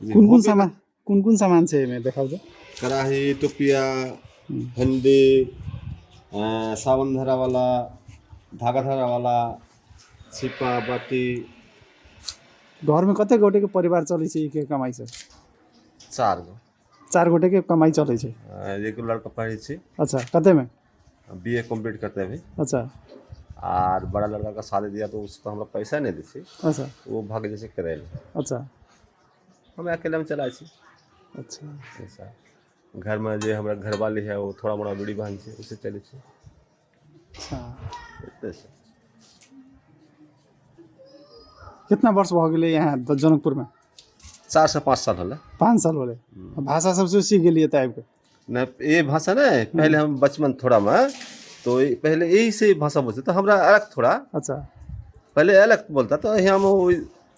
कोन कोन सामान कोन कोन सामान छै एहिमे देखाउ तऽ कड़ाही टोपिया हल्दी अ, सावन धरा वाला धागा धरा वाला छिपा बाटी घरमे कते गोटेके परिवार चलै छै ई के कमाइसँ चार गो चार गोटे के कमाई चले छै आ, एगो लड़का पढ़े छी अच्छा कते में बी ए कम्प्लीट करते अभी अच्छा आर बड़ा लड़का का शादी दिया तो उसको हमरा पैसा नहीं दी छी अच्छा वो भाग जैसे करे ले अच्छा हम अकेले में चला छी अच्छा ऐसा घर में जे हमरा घर वाली है वो थोड़ा मोड़ा बूढ़ी बहन छै उससे चले छी अच्छा एतयसँ कितना वर्ष भऽ गेलै यहाँ द- जनकपुरमे चारिसँ पाँच साल होलै पाँच साल होलै भाषा सबसँ सीख गेलियै तऽ आबिके नहि ये भाषा नहीं पहले हम बचपन थोड़ा में तो ये- पहले यही से भाषा बोलते तो हमरा अलग थोड़ा अच्छा पहले अलग बोलता तो यहाँ हम वो